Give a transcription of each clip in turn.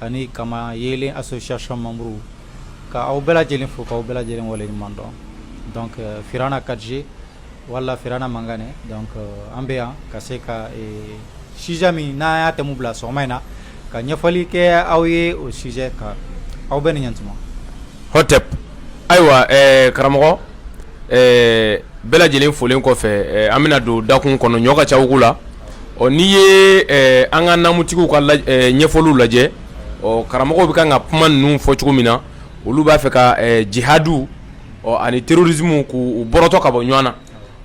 ani kama yelen association membres ka aw bɛɛ lajɛlen fo k'aw bɛɛ lajɛlen waleɲuman dɔn donc euh, Firawuna 4G wala Firawuna Mangane donc euh, an bɛ yan ka se ka ee sujet min n'an y'a thème bila sɔgɔma in na ka ɲɛfɔli kɛ aw ye o sujet kan aw bɛɛ ni ɲantuma. Hotep ayiwa ɛɛ karamɔgɔ ɛɛ bɛɛ lajɛlen folen kɔfɛ an bɛna don dakun kɔnɔ ɲɔ ka ca wugu la ɔ n'i ye an ka namutigiw ka ɲɛfɔliw lajɛ ɔ karamɔgɔw bɛ kan ka kuma ninnu fɔ cogo min na olu b'a fɛ ka jihadu ɔ ani terrorisme k' u bɔrɔtɔ ka bɔ ɲɔgɔn na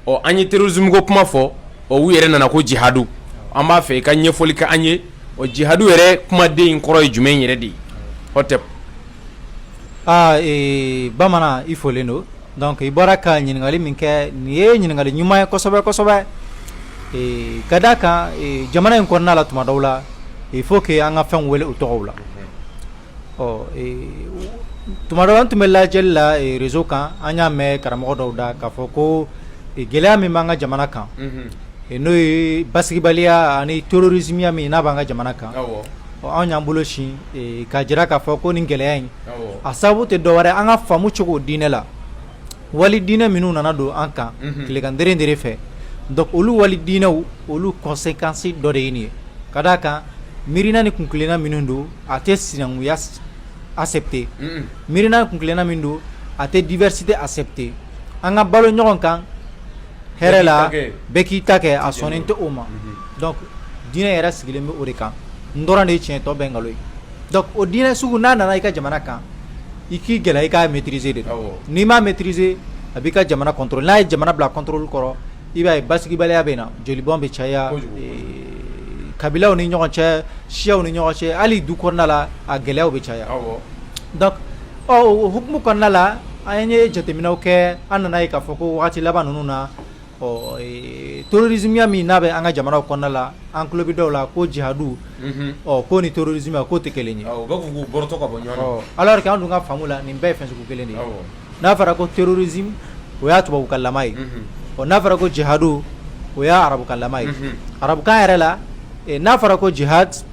ɔ an ye terrorisme ko kuma fɔ o u yɛrɛ nana ko jihadu an b'a fɛ i ka ɲɛfɔli kɛ an ye o jihadu yɛrɛ kumaden in kɔrɔ ye jumɛn yɛrɛ de ye Aa ee bamanan i folen don donc i bɔra ka ɲininkakali min kɛ nin ye ɲininkakali ɲuman ye kosɛbɛ kosɛbɛ ka d' a kan jamana in kɔnɔna la tuma dɔw la il faut que an ka fɛnw wele u tɔgɔw la ɔ tuma dɔw an tun bɛ lajɛli la réseau kan an y'a mɛn karamɔgɔ dɔw da k'a fɔ ko gɛlɛya min b'an ka jamana kan n'o ye basigibaliya ani terrorismeya min n'a b'an ka jamana kan Anw y'an bolo sin ka jira k'a fɔ ko ni gɛlɛya in a sababu tɛ dɔwɛrɛ an ka faamu cogo diinɛ la wali diinɛ minnu nana don an kan tilegan dɛrɛ fɛ donc olu wali diinɛw olu conséquence dɔ de ye nin ye ka d' a kan miirina ni kunkelenna minnu don a tɛ sinankunya accepter miirina ni kunkelenna min don a tɛ diversité accepter an ka balo ɲɔgɔn kan hɛrɛ la bɛɛ k'i ta kɛ a sɔnnen tɛ o ma donc diinɛ yɛrɛ sigilen bɛ o de kan n dɔrɔn de ye tiɲɛ tɔ bɛɛ nkalon ye donc o diinɛ sugu n'a nana i ka jamana kan i k'i gɛlɛya i k'a maîtriser de n'i m'a maîtriser a b'i ka jamana contrôle n'a ye jamana bila contrôle kɔrɔ i b'a ye basigibaliya bɛ na jolibɔn bɛ caya kabilaw ni ɲɔgɔn cɛ siyaw ni ɲɔgɔn cɛ hali du kɔnɔna la a gɛlɛyaw bɛ caya Ɔ o hukumu kɔnɔna la an ye jateminɛw kɛ an nana ye k'a fɔ ko waati laban ninnu na ɔ terrorismeya min n'a bɛ an ka jamanaw kɔnɔna la an tulo bɛ dɔw la ko jihadu ɔ ko ni terrorisme k'o tɛ kelen ye alors que an dun ka faamu la nin bɛɛ ye fɛn sugu kelen de ye n'a fɔra ko terrorisme o y'a tubabukan lama ye ɔ n'a fɔra ko jihadu o y'a arabukan lama ye arabukan yɛrɛ la n'a fɔra ko jihadi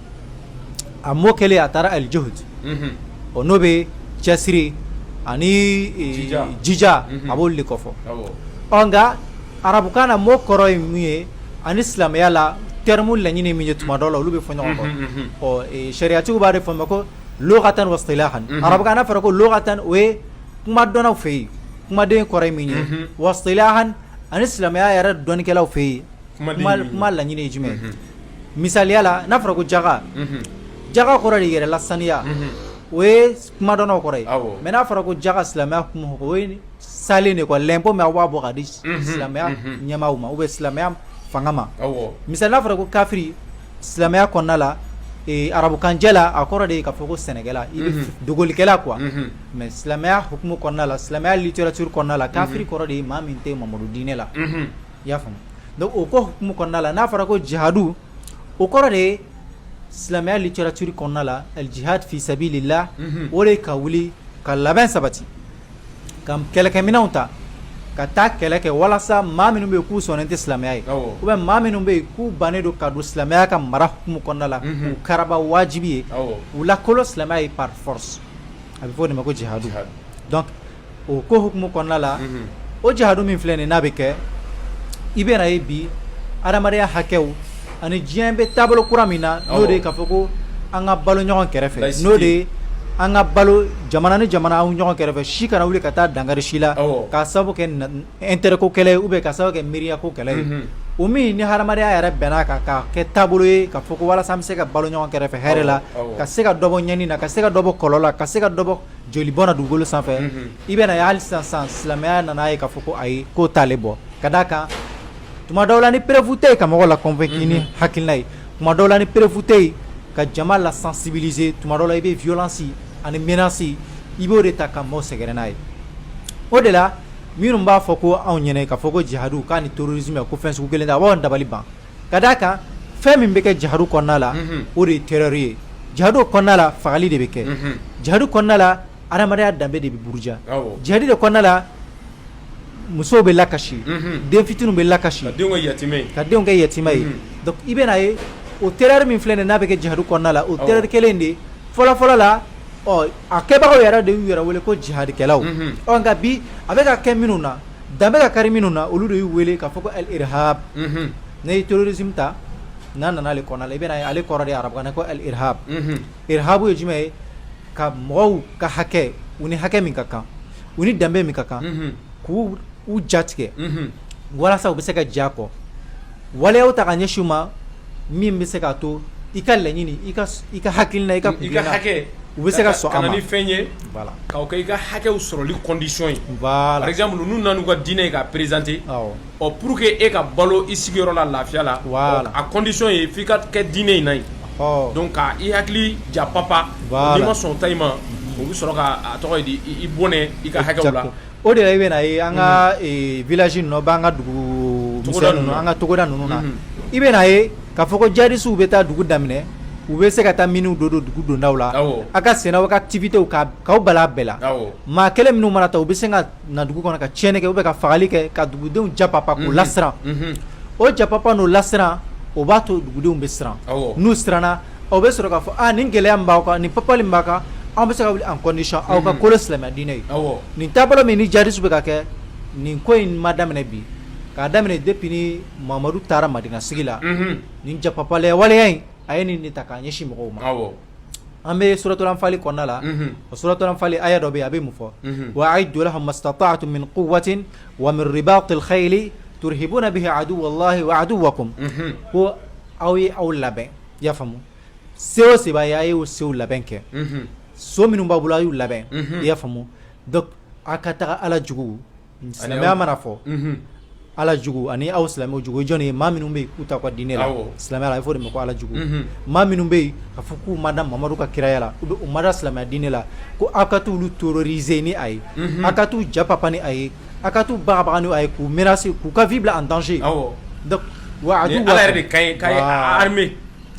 a mot clé a taara al-juhd o n'o bɛ cɛsiri ani jija a b'olu de kɔfɔ ɔ nka arabukan na mot kɔrɔ ye min ye ani silamɛya la terme laɲini min ye tuma dɔ la olu bɛ fɔ ɲɔgɔn kɔ sariyatigiw b'a de fɔ ma ko lugatan wa istilahan arabukan n'a fɔra ko lugatan o ye kuma dɔnnaw fɛ yen kumaden kɔrɔ min ye wa istilahan ani silamɛya yɛrɛ dɔnnikɛlaw fɛ yen kuma laɲini ye jumɛn misaliya la n'a fɔra ko jaka jaka kɔrɔ de yɛrɛlasaniya o ye kumadenw kɔrɔ ye mais n'a fɔra ko jaka silamɛya kɔnɔ o ye salen de l'impôt min a b'a bɔ ka di silamɛya ɲɛmaa ma ou bien silamɛya fanga ma misali n'a fɔra ko kafiri silamɛya kɔnɔna la arabukanjɛ la a kɔrɔ de ye k'a fɔ ko sɛnɛkɛla ou bien dogolikɛla quoi mais silamɛya hukumu kɔnɔna la silamɛya littérature kɔnɔna la kafiri kɔrɔ de ye maa min tɛ mamadu diinɛ la i y'a faamu donc o ko hukumu kɔnɔna la n'a fɔra ko jihadu o kɔrɔ de ye silamɛya littérature kɔnɔna la al djihad fi sabili laahi unhun o de ye ka wuli ka labɛn sabati ka kɛlɛkɛminɛnw ta ka taa kɛlɛ kɛ walasa maa minnu bɛ yen k'u sɔnnen tɛ silamɛya ye awɔ ou bien maa minnu bɛ yen k'u bannen don ka don silamɛya ka mara hukumu kɔnɔna la Unhun. k'u karaba wajibi ye awɔ u lakolo silamɛya ye par force a bɛ fɔ o de ma ko jihadu Jihad. donc o ko hukumu kɔnɔna la o jihadu min filɛ nin n'a bɛ kɛ i bɛna ye bi adamadenya hakɛw ani diɲɛ bɛ taabolo kura min na n'o de k'a fɔ ko an ka balo ɲɔgɔn kɛrɛfɛ n'o de an ka balo jamana ni jamana anw ɲɔgɔn kɛrɛfɛ si kana wuli ka taa dankari si la k'a sababu kɛ intérêt ko kɛlɛ ye ou bien k'a sababu kɛ miiriya ko kɛlɛ ye o min ni hadamadenya yɛrɛ bɛnna kan k'a kɛ taabolo ye k'a fɔ ko walasa an bɛ se ka balo ɲɔgɔn kɛrɛfɛ hɛrɛ la ka se ka dɔ bɔ ɲɛni na ka se ka dɔ bɔ kɔlɔlɔ la ka se ka dɔ bɔ jolibɔn na dugukolo sanfɛ i bɛna ye hali sisan silamɛya nana ye k'a fɔ ko ayi k'o t'ale bɔ ka da a kan tuma dɔw la ni preuve tɛ yen ka mɔgɔ la convaincre ni hakilina ye tuma dɔw la ni preuve tɛ yen ka jama la sensibiliser tuma dɔ la i bɛ violence ani menace i b'o de ta ka maaw sɛgɛrɛ n'a ye o de la minnu b'a fɔ ko anw ɲɛna k'a fɔ ko jihadu k'a ni terrorisme ko fɛn sugu kelen tɛ a b'an dabali ban ka d'a kan fɛn min bɛ kɛ jihadu kɔnɔna la o de ye terreur ye jihadu kɔnɔna la fagali de bɛ kɛ jihadu kɔnɔna la hadamadenya danbe de bɛ buruja jihadu de kɔnɔna la musow bɛ lakasi den fitininw bɛ lakasi ka denw kɛ yatima ye donc i bɛna ye o terreur min filɛ nin n'a bɛ kɛ jihadu kɔnɔna la o terreur kelen de fɔlɔfɔlɔ la A kɛbagaw yɛrɛ de y'u yɛrɛ wele ko jihadikɛlaw, unhun, ɔ nka bi a bɛ ka kɛ minnu na dan bɛ ka kari minnu na olu de y'u wele k'a fɔ ko al irhab unhun, n'i ye terrorisme ta n'a nana ale kɔnɔna la i bɛna ye ale kɔrɔ de ye arabukan na ko al irhab, unhun, irhab ye jumɛn ye ka mɔgɔw ka hakɛ u ni hakɛ min ka kan u ni danbe min ka kan, unhun, k'u jatigɛ, unhun, walasa u bɛ se ka jɛn a kɔ waleyaw ta ka ɲɛsin u ma min bɛ se k'a to i ka laɲini i ka hakilina i ka i ka hakɛ u bɛ se ka sɔn ka na ni fɛn ye k'o kɛ i ka hakɛw sɔrɔli condition ye par exemple n'u nana n'u ka diinɛ ye k'a présenter ɔ pour que e ka balo i sigiyɔrɔ la lafiya la a condition ye f'i ka kɛ diinɛ in na yen donc ka i hakili ja papa n'i ma sɔn ta i ma o bɛ sɔrɔ k'a tɔgɔ di i bɔnɛ i ka hakɛ la O de la i bɛna a ye an ka village ninnu na ou bien an ka dugu misɛn an ka togoda ninnu na i bɛna a ye k'a fɔ ko djihadistes bɛ taa dugu daminɛ u bɛ se ka taa minew don don dugu dondaw la a ka sɛnɛ a ka activitéw k'aw bali a bɛɛ la maa kelen minnu mana ta u bɛ se ka na dugu kɔnɔ ka tiɲɛni kɛ ou bien ka fagali kɛ ka dugudenw japapa k'u lasiran o japapa n'o lasiran o b'a to dugudenw bɛ siran n'u siranna u bɛ sɔrɔ k'a fɔ aa nin gɛlɛya min b'aw kan nin papali min b'aw kan anw bɛ se k'a wuli en condition aw ka kolo silamɛya diinɛ ye, awɔ, nin taabolo min ni djihadistes bɛ ka kɛ nin ko in ma daminɛ bi k'a daminɛ depuis ni Mamadu taara Madina sigi la, unhun, nin japapalaya waleya in a ye nin de ta k'a ɲɛsin mɔgɔw ma, awɔ, an bɛ suratul anfali kɔnɔna la, unhun, o suratul anfali aya dɔ bɛ yen a bɛ mun fɔ, unhun, wa aidou lahum mastatouatou min kouwatin wa min ribatil kheyili tourhibouna bihi adouwa Allahi wa adouwakoum ko aw ye aw labɛn i y'a faamu se o se b'a ye a y'o sew labɛn kɛ so minnu b'a bolo a y'u labɛn i y'a faamu donc aw ka taga ala jugu silamɛya mana fɔ ala jugu ani aw silamɛw jugu jɔn ye maa minnu bɛ yen k'u t'a ka diinɛ la silamɛya b'a fɔ o de ma ko ala jugu maa minnu bɛ yen k'a fɔ k'u ma da Mamadu ka kiraya la ou bien u ma da silamɛya diinɛ la ko aw ka t'olu terroriser ni a ye aw ka t'u japapa ni a ye A ka t'u bagabaga ni a ye k'u menacer k'u ka vie bila en danger wa Ala yɛrɛ ka yamaruya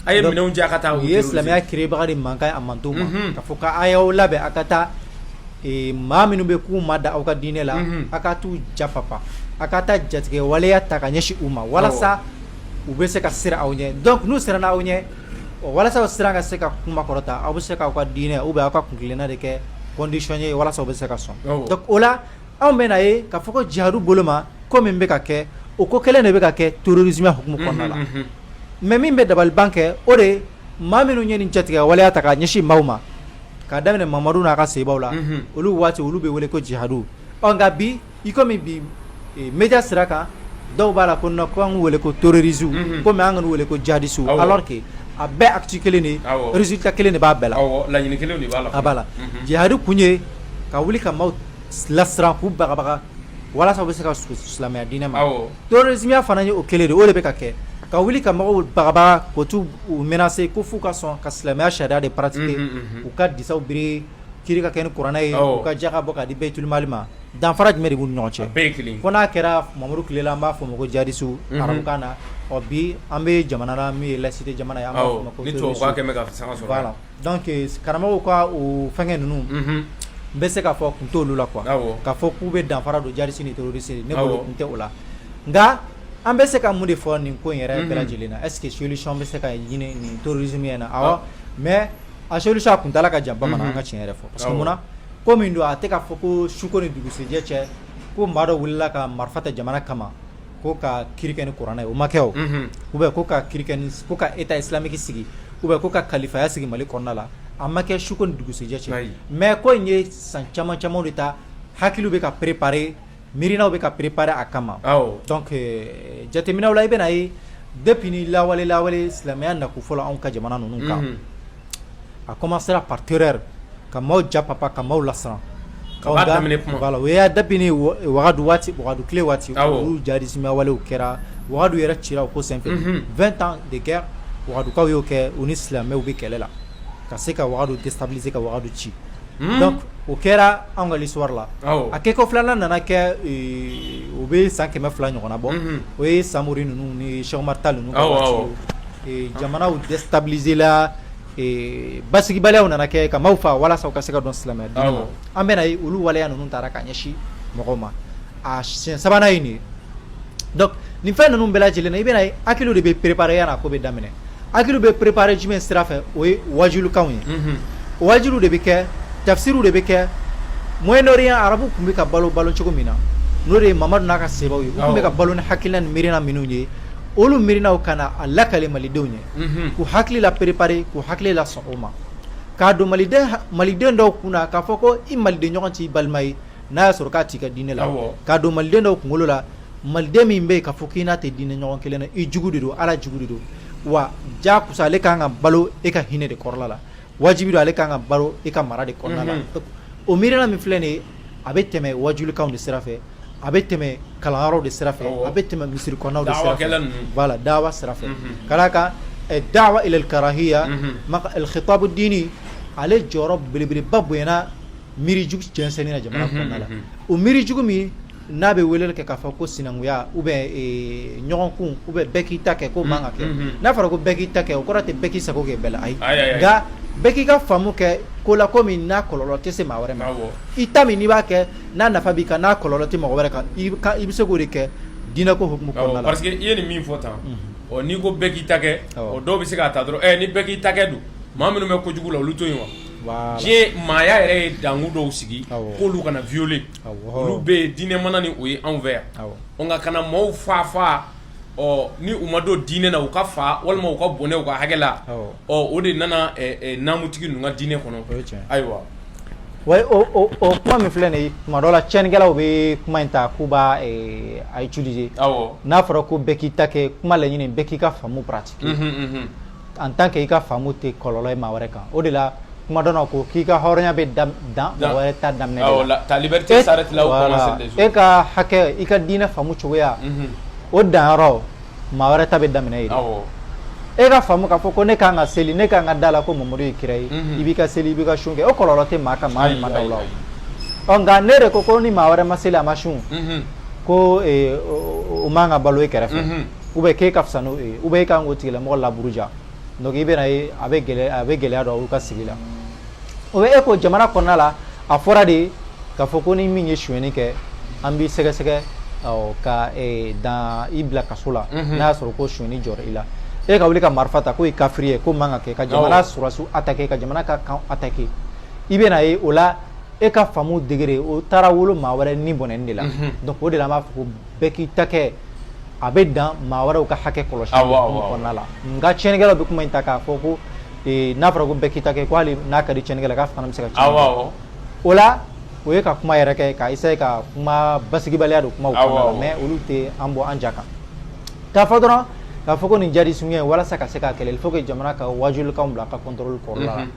ye min di ka taa u ye silamɛya kɛbaga de mankan a mantɔn ma k'a fɔ k'a y'aw labɛn a ka taa maa minnu bɛ yen k'u ma da aw ka diinɛ la a ka t'u japapa a ka taa jatigɛ waleya ta k'a ɲɛsin u ma walasa u bɛ se ka siran aw ɲɛ donc n'u siranna aw ɲɛ walasa o siran ka se ka kuma kɔrɔta aw bɛ se k'aw ka diinɛ ou bien aw ka kuntilenna de kɛ condition ye walasa u bɛ se ka sɔn o la anw bɛna ye k'a fɔ ko jihadu bolo ma ko min bɛ ka kɛ o ko kelen de bɛ ka kɛ terrorisme hukumu kɔnɔna la, unhun, unhun, mais min bɛ dabaliban kɛ o de ye maa minnu ye nin jatigɛ waleya ta k'a ɲɛsin maaw ma k'a daminɛ Mamadu n'a ka sebaaw la, unhun, olu waati olu bɛ wele ko jihadu ɔ nka bi i komi bi media sira kan dɔw b'a la ko non ko an k'u wele ko terroristes unhun, komi an kan'u wele ko djihadistes awɔ, alors que a bɛɛ acte kelen de ye, awɔ, résultat kelen de b'a bɛɛ la, awɔ, laɲini kelen de b'a la, a b'a la, unhun, jihadu kun ye ka wuli ka maaw lasiran k'u bagabaga walasa u bɛ se ka silamɛya diinɛ ma terrorisme fana ye o kelen de o de bɛ ka kɛ ka wuli ka mɔgɔw bagabaga ka t'u menacer ko f'u ka sɔn ka silamɛya sariya de pratiquer u ka disaw biri kiri ka kɛ ni kuranɛ ye u ka jaka bɔ k'a di Bayitul Mali ma danfara jumɛn de b'u ni ɲɔgɔn cɛ a bɛɛ ye kelen ye fo n'a kɛra Mamadu tile la an b'a fɔ o ma ko jihadistes arabukan na ɔ bi an bɛ jamana na min ye laïcité jamana ye an b'a fɔ o ma ko terroristes ni tubabukan kɛn bɛ ka fanga sɔrɔ voilà Donc karamɔgɔw ka o fɛnkɛ ninnu, unhun, n bɛ se k'a fɔ kun t'olu la quoi , awɔ, k'a fɔ k'u bɛ danfara don djihadiste ni terroriste ne bolo kun tɛ o la, nka an bɛ se ka mun de fɔ nin ko in yɛrɛ bɛɛ lajɛlen na est ce que solution bɛ se ka ɲini nin terrorisme in na awɔ mais a solution a kuntaala ka jan bamanan an ka tiɲɛ yɛrɛ fɔ parce que mun na ko min don a tɛ k'a fɔ ko suko ni dugusɛjɛ cɛ ko maa dɔ wulila ka marifa ta jamana kama ko ka kiri kɛ ni kuranɛ ye o ma kɛ o ou bien ko ka kiri kɛ ni ko ka état islamique sigi ou bien ko ka kalifaya sigi mali kɔnɔna la a ma kɛ suko ni dugusɛjɛ cɛ mais ko in ye san caman caman de ta hakiliw bɛ ka préparer miirinaw bɛ ka préparer a kama donc jateminɛw la i bɛna a ye depuis ni lawale lawale silamɛya na ko fɔlɔ anw ka jamana ninnu kan a commencera par terreur ka maaw japapa ka maaw lasiran voilà o y'a depuis ni wagadu tile waati olu djihadisme walew kɛra wagadu yɛrɛ cira o ko senfɛ 20 ans de guerre wagadukaw y'o kɛ u ni silamɛw bɛ kɛlɛ la ka se ka wagadu déstabiliser ka wagadu ci donc o kɛra an ka l'histoire la a kɛ ko filanan nana kɛ o bɛ san kɛmɛ fila ɲɔgɔn na bɔ o ye samori ninnu ni Cheikh Oumar Tall ninnu Jamanaw déstabiliser la basigibaliya nana kɛ ka maaw faa walasa u ka se ka don silamɛya diinɛ na an bɛna a ye olu waleya ninnu taara ka ɲɛsin mɔgɔw ma a siɲɛ sabanan ye nin ye donc nin fɛn ninnu bɛɛ lajɛlen na i bɛna a ye hakiliw de bɛ préparer yan'a ko bɛ daminɛ hakiliw bɛ préparer jumɛn sira fɛ o ye wajulikanw ye o wajuli de bɛ kɛ tafsiri de bɛ kɛ Moyen-Orient arabu tun bɛ ka balo balo cogo min na n'o de ye mamadu n'a ka saabaw ye u tun bɛ ka balo ni hakilina ni miirina minnu ye olu miirinaw ka na a lakale malidenw ye k'u hakili la préparer k'u hakili la sɔn o ma k'a don maliden dɔw kun na k'a fɔ ko i maliden ɲɔgɔn t'i balima ye n'a y'a sɔrɔ k'a t'i ka diinɛ la k'a don maliden dɔw kunkolo la maliden min bɛ yen k'a fɔ k'i n'a tɛ diinɛ ɲɔgɔn kelen na i jugu de don ala jugu de don wa ja kusa ale kan ka balo e ka hinɛ de kɔrɔla la wajibi don ale kan ka balo e ka mara de kɔrɔla la o miirina min filɛ nin ye a bɛ tɛmɛ wajulikanw de sira fɛ a bɛ tɛmɛ kalanyɔrɔw de sira fɛ a bɛ tɛmɛ misiri kɔnɔnaw de sira fɛ voilà dawa sira fɛ ka d'a kan dawa ila al-karahiya al-khitabu ad-dini ale jɔyɔrɔ belebeleba bonyana miirijugu jɛnsɛnni na jamana kɔnɔna la o miirijugu min n'a bɛ weleli kɛ k'a fɔ ko sinankunya ou bien ɲɔgɔnkun ou bien bɛɛ k'i ta kɛ ko man ka kɛ n'a fɔra ko bɛɛ k'i ta kɛ o kɔrɔ tɛ bɛɛ k'i sago kɛ bɛɛ la ayi nka bɛɛ k'i ka faamu kɛ ko la ko min n'a kɔlɔlɔ tɛ se maa wɛrɛ ma i ta min n'i b'a kɛ n'a nafa b'i kan n'a kɔlɔlɔ tɛ mɔgɔ wɛrɛ kan i bɛ se k'o de kɛ diinɛ ko hukumu kɔnɔna la. Awɔ parce que i ye nin min fɔ tan. Unhun. Ɔ n'i ko bɛɛ k'i ta kɛ. Awɔ. Ɔ dɔw bɛ se k'a ta dɔrɔn ɛ ni bɛɛ k'i ta kɛ dun maa minnu bɛ kojugu la olu to yen wa. Voilà. Diɲɛ maaya yɛrɛ ye danku dɔw sigi. Awɔ. K'olu kana violer. Awɔ. Olu bɛ yen diinɛ mana ni o ye anw fɛ yan. Awɔ. Ɔ nka kana maaw faa faa ɔ ni u ma don diinɛ na u ka fa walima u ka bɔnɛ u ka hakɛ la ɔ o de nana namutigi ninnu ka diinɛ kɔnɔ ayiwa kuma min filɛ nin ye tuma dɔ la tiɲɛnikɛlaw bɛ kuma in ta k'u b'a utiliser n'a fɔra ko bɛɛ k'i ta kɛ kuma laɲini bɛɛ k'i ka faamu pratiquer en tant que i ka faamu tɛ kɔlɔlɔ maa wɛrɛ kan o de la kuma dɔ la ko k'i ka hɔrɔnya bɛ dan maa wɛrɛ ta daminɛ de la ta liberté s'arrête là où commence les autres e ka hakɛ i ka diinɛ faamu cogoya o danyɔrɔ maa wɛrɛ ta bɛ daminɛ yen e ka faamu k'a fɔ ko ne kan ka seli ne kan ka da a la ko mamadu ye kira ye i b'i ka seli i b'i ka sun kɛ o kɔlɔlɔ tɛ maa kan maa min ma da o la ɔ nka n'e de ko ko ni maa wɛrɛ ma seli a ma sun ko o man ka balo e kɛrɛfɛ ou bien k'e ka fisa n'o ye ou bien e ka kan k'o tigilamɔgɔ laburuja donc i bɛna ye a bɛ gɛlɛya a bɛ gɛlɛya don aw ka sigi la ou bien ko jamana kɔnɔna la a fɔra de k'a fɔ ko ni min ye sonyɛni kɛ an b'i sɛgɛsɛgɛ awɔ, ka eh, dan i bila kaso la n'a y'a sɔrɔ ko sonyɛni jɔra i la e ka wuli ka marifa ta k'o ye kafiri ye k'o man ka kɛ ka jamana Awɔ. sɔrɔdasiw attaquer ka jamana ka camp attaquer i bɛna ye o la e ka faamu degré o taara wolo maa wɛrɛ ni bɔnɛni de la donc o de la an b'a fɔ ko bɛɛ k'i ta kɛ a bɛ dan maa wɛrɛw ka hakɛ kɔlɔsi Awɔ, awɔ, awɔ. kɔnɔna la nka tiɲɛnikɛlaw bɛ kuma in ta k'a fɔ ko ee, n'a fɔra ko bɛɛ k'i ta kɛ ko hali n'a ka di tiɲɛnikɛla k'a fana bɛ se ka tiɲɛni Awɔ, kɛ. awɔ. o la o ye ka kuma yɛrɛ kɛ ka essayer ka kuma basigibaliya don kumaw Awɔ, kɔnɔna la awɔ. mais olu tɛ an bɔ an ja kan k'a fɔ dɔrɔn k'a fɔ ko nin jihadi suguya in walasa ka se k'a kɛlɛ il faut que jamana ka wajulikanw bila a ka contrôle kɔrɔla la Mhm.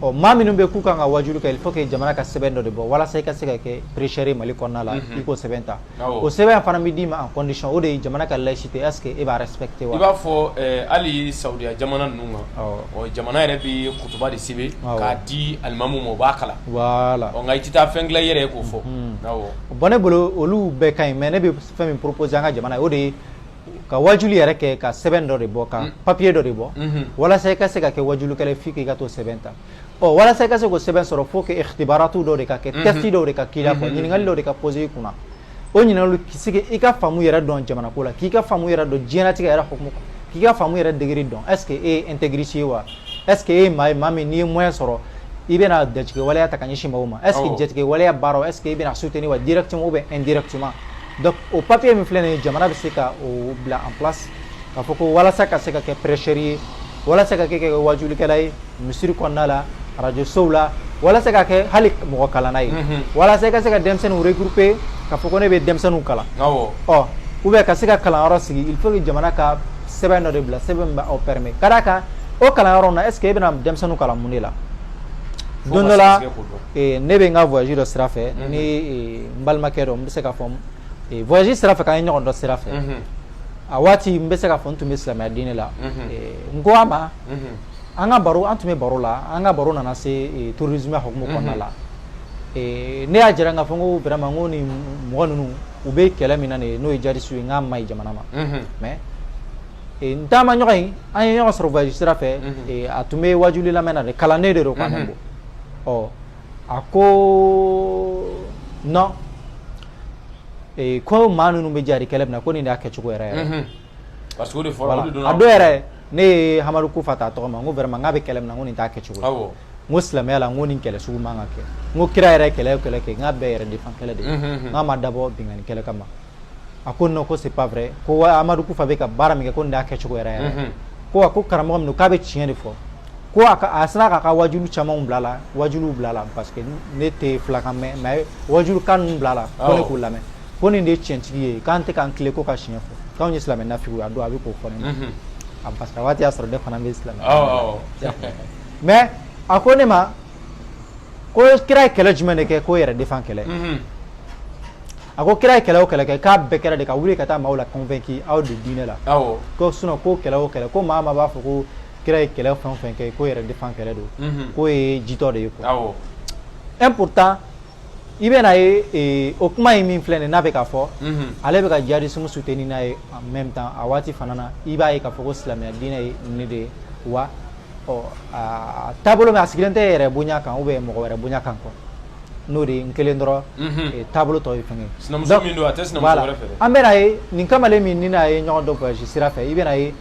ɔ maa minnu bɛ k'u kan ka wajulu kɛ il faut que jamana ka sɛbɛn dɔ de bɔ walasa i ka se ka kɛ prêcheur ye Mali kɔnɔna la i k'o sɛbɛn ta o sɛbɛn fana bɛ d'i ma en condition o de ye jamana ka laïcité est ce que e b'a respecter wa i b'a fɔ eh, hali Saudiya jamana ninnu kan ɔ jamana yɛrɛ bɛ kutuba de sɛbɛn k'a di alimamu ma o b'a kalan voilà ɔ nka i tɛ taa fɛn dilan i yɛrɛ ye k'o fɔ awɔ bon ne bolo olu bɛɛ ka ɲi mais ne bɛ fɛn min proposer an ka jamana ye o de ye ka wajulu yɛrɛ kɛ ka sɛbɛn dɔ de bɔ ka papiye dɔ de bɔ walasa i ka se ka kɛ wajulukɛla ye faut que i ka t'o sɛbɛn ta ɔ walasa i ka se k'o sɛbɛn sɔrɔ faut que ikhtibaratu dɔw de ka kɛ test dɔw de ka k'i la fo ɲininkali dɔw de ka poser i kunna o ɲininka ka se k'i ka faamu yɛrɛ dɔn jamana ko la k'i ka faamu yɛrɛ dɔn diɲɛlatigɛ yɛrɛ hukumu k'i ka faamu yɛrɛ degré dɔn est ce que e ye intégriste ye wa est ce que e ye maa ye maa min n'i ye moyen sɔrɔ i bɛna jatigɛ waleya ta ka ɲɛsin maa ma est ce que jatigɛ waleya baara est ce que i bɛna soutenir wa directement ou bien indirectement donc o papiye min filɛ nin ye jamana bɛ se ka o bila en place k'a fɔ ko walasa ka se ka kɛ prêcheur ye walasa ka kɛ ka kɛ waajulikɛla ye misiri kɔnɔna la radio sow la walasa ka kɛ hali mɔgɔ kalanna ye mhm. walasa i ka se ka denmisɛnninw regrouper k'a fɔ ko ne bɛ denmisɛnninw kalan awɔ ɔ ou bien ka se ka kalanyɔrɔ sigi il faut que jamana ka sɛbɛn dɔ de bila sɛbɛn min b'aw permet ka d'a kan o kalanyɔrɔ in na est ce que e bɛna denmisɛnninw kalan mun de la don dɔ la ne bɛ n ka voyage dɔ sira fɛ ni n balimakɛ dɔ n bɛ se k'a fɔ voyage sira fɛ k'an ye ɲɔgɔn dɔn sira fɛ a waati n bɛ se k'a fɔ n tun bɛ silamɛya diinɛ la n ko a ma an ka baro an tun bɛ baro la an ka baro nana se terrorisme hukumu kɔnɔna la ne y'a jira k'a fɔ ko vraiment ko ni mɔgɔ ninnu u bɛ kɛlɛ min na nin n'o ye jihadisme ye n k'a man ɲi jamana ma mais N taamaɲɔgɔn in an ye ɲɔgɔn sɔrɔ voyage sira fɛ a tun bɛ wajuli lamɛnna de kalanden de don k' bɔ ɔ a ko non ko maa ninnu bɛ jihadi kɛlɛ min na ko nin y'a kɛ cogo yɛrɛ yɛrɛ a don yɛrɛ ne ye amadu kufa ta tɔgɔ ma n ko vraiment n k'a bɛ kɛlɛ min na ko nin t'a kɛ cogo ko silamɛya la ko nin kɛlɛ sugu man kan ka kɛ n ko kira yɛrɛ kɛlɛ kɛlɛ kɛ n k'a bɛɛ yɛrɛ defan kɛlɛ de n k'a ma dabɔ binkanni kɛlɛ kama a ko non ko c'est pas vrai ko amadu kufa bɛ ka baara min kɛ ko nin y'a kɛ cogo yɛrɛ yɛrɛ ko a ko karamɔgɔ min k'a bɛ tiɲɛ de fɔ ko a sera k'a ka wajulu camanw bila la wajulu bila la parce que ne tɛ filakan mɛn mais wajulu kan ninnu bila la ko ne k'u lamɛn ko nin de ye tiɲɛtigi ye k'an tɛ k'an tilen ko ka tiɲɛ fɔ k'anw ye silamɛ naafigiw a don a bɛ k'o fɔ ne ma parce que a waati y'a sɔrɔ ne fana ye silamɛ mais a ko ne ma ko kira ye kɛlɛ jumɛn de kɛ k'o yɛrɛ defan kɛlɛ a ko kira ye kɛlɛ o kɛlɛ kɛ k'a bɛɛ kɛra de ka wuli ka taa maaw la convaincu aw de diinɛ la ko sinon ko kɛlɛ o kɛlɛ ko maa maa b'a fɔ ko kira ye kɛlɛ fɛn o fɛn kɛ ko yɛrɛ defan kɛlɛ don mhm. k'o ye jitɔ de ye quoi un pourtant i bɛna ye eh, o kuma in min filɛ nin n'a bɛ k'a fɔ mhm. ale bɛ ka jihadisme soutenir n'a ye en même temps a waati fana na i b'a ye k'a fɔ ko silamɛya diinɛ ye nin de ye wa ɔ aa taabolo min a sigilen tɛ yɛrɛ bonya kan ou bien mɔgɔ wɛrɛ bonya kan quoi n'o de ye n kelen dɔrɔn ee taabolo tɔ ye fɛn ye sinamuso min don a tɛ sinamuso wɛrɛ fɛ dɛ an bɛna ye nin kamalen min ne n'a ye ɲɔgɔn dɔn voyage sira fɛ i bɛna ye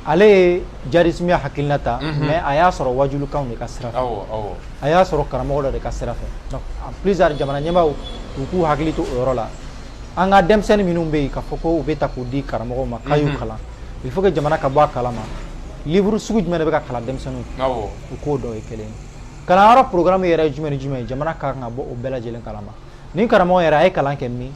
ale ye jadisimiya hakilina ta mais a y'a sɔrɔ wajulukanw de ka sira fɛ a y'a sɔrɔ karamɔgɔ dɔ de ka sira fɛ donc en plus jamana ɲɛmaaw u k'u hakili to o yɔrɔ la an ka denmisɛnnin minnu bɛ yen k'a fɔ ko u b'u ta k'u di karamɔgɔw ma k'a y'u mhm. kalan il faut que jamana ka bɔ a kalama livre sugu jumɛn de bɛ ka kalan denmisɛnninw u k'o dɔ ye kelen kalanyɔrɔ programme yɛrɛ ye jumɛn ni jumɛn ye jamana ka kan ka bɔ o bɛɛ lajɛlen kalama ni karamɔgɔ yɛrɛ a ye kalan kɛ min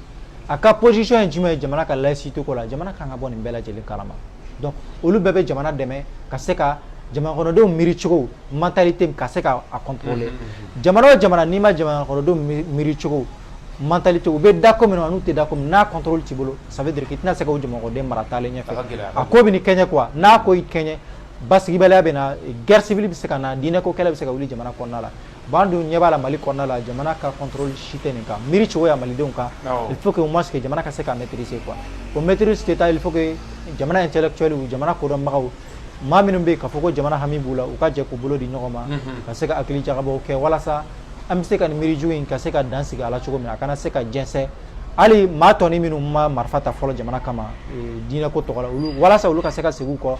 a ka position ye jumɛn ye jamana ka laïcité ko la jamana ka kan ka bɔ nin bɛɛ lajɛlen kalama donc olu bɛɛ bɛ jamana dɛmɛ ka se ka jamanakɔnɔdenw miiri cogo mentalité ka se ka a contrôler mhm, mhm, jamana o jamana n'i ma jamanakɔnɔdenw miiri cogo mentalité u bɛ da ko min na n'u tɛ da ko min na n'a contrôle t'i bolo ça veut dire qu'i tɛna se ka jamanakɔnɔden mara taalen ɲɛfɛ a ko b'i kɛɲɛ quoi n'a ko y'i kɛɲɛ basigibaliya bɛ na guerre civile bɛ se ka na diinɛ ko kɛlɛ bɛ se ka wuli jamana kɔnɔna la bon an dun ɲɛ b'a la mali kɔnɔna la jamana ka contrôle si tɛ nin kan miiri cogoya malidenw kan il faut que au moins que jamana ka se ka maîtriser quoi o maîtriser tɛ taa fo jamana intellectuel jamana kodɔnbagaw maa minnu bɛ yen k'a fɔ ko jamana hami b'u la u ka jɛ k'u bolo di ɲɔgɔn ma ka se ka hakili jagabɔw kɛ walasa an bɛ se ka nin miiri jugu in ka se ka dan sigi a la cogo min a kana se ka jɛnsɛn hali maa tɔni minnu ma marifa ta fɔlɔ jamana kama diinɛ ko tɔgɔ la olu walasa olu ka se ka segin kɔ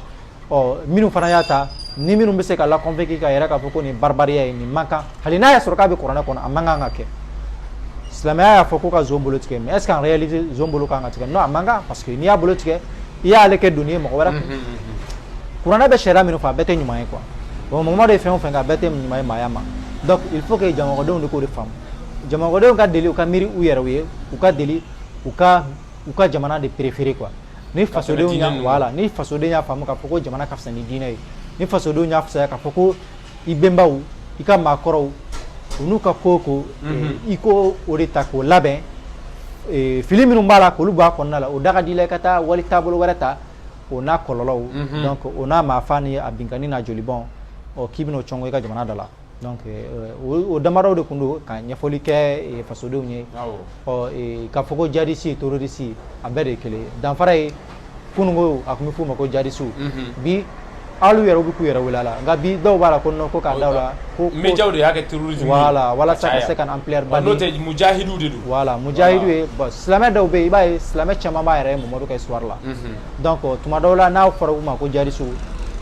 ɔ minnu fana y'a ta ni minnu bɛ se ka la convaincre k'a yira k'a fɔ ko nin baribariya ye nin man kan hali n'a y'a sɔrɔ k'a bɛ kuranɛ kɔnɔ a man kan ka kɛ silamɛya y'a fɔ ko ka zon bolo tigɛ mais est ce qu'en réalité zon bolo kan ka tigɛ non a man kan parce que n'i y'a bolo tigɛ i y'ale kɛ doni ye mɔgɔ wɛrɛ kun kuranɛ bɛ sariya minnu fɔ a bɛɛ tɛ ɲuman ye quoi bon mɔgɔ de fɛn o fɛn kɛ a bɛɛ tɛ ɲuman ye maaya ma donc il faut que jamanadenw de k'o de faamu jamanadenw ka deli u ka miiri u yɛrɛw ye u ka deli u ka u ka jamana de préféré quoi ni fasodenw y'a voilà ni fasoden y'a faamu k'a fɔ ko jamana ka fisa ni diinɛ ye ni fasodenw y'a fisaya k'a fɔ ko i bɛnbaw i ka maakɔrɔw u n'u ka ko ko eh, i ko o de ta k'o labɛn eh, fili minnu b'a la k'olu b'a kɔnɔna la o da ka di i la i ka taa wali taabolo wɛrɛ ta o n'a kɔlɔlɔw donc o n'a maafa ni a binkanni n'a jolibɔn ɔ k'i bɛn'o cɔngɔ i ka jamana da la donc eh, o o damadɔw de tun don ka ɲɛfɔli kɛ eh, fasodenw ye Awɔ. ɔ eh, k'a fɔ ko jadisi terorisi a bɛɛ de ye kelen ye danfara ye kununko a tun bɛ f'u ma ko jadisi bi alu yɛrɛ bɛ k'u yɛrɛ wele a la nka bi dɔw b'a la ko non ko k'a da u la ko médias de y'a kɛ terrorisme ye voilà walasa ka se ka na ampleur ba di n'o tɛ mujahidu de don voilà mujahidu ye bon silamɛ dɔw bɛ yen i b'a ye silamɛ caman b'a yɛrɛ ye Mamadu ka histoire la donc tuma dɔw la n'a fɔra u ma ko jadisi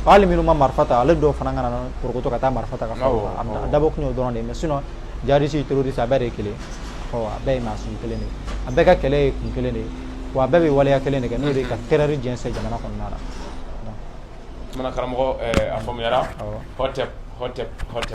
hali minnu ma marifa ta ale dɔw fana kana porokoto ka taa marifa ta ka fara u kan a dabɔ kun y'o dɔrɔn de ye mais sinon jadisi terroriste a bɛɛ de ye kelen ye ɔ a bɛɛ ye maa sugu kelen de ye a bɛɛ ka kɛlɛ ye kun kelen de ye wa bɛɛ bɛ waleya kelen de kɛ n'o de ka terreur jɛnsɛn jamana kɔnɔna la karamɔgɔ a faamuyara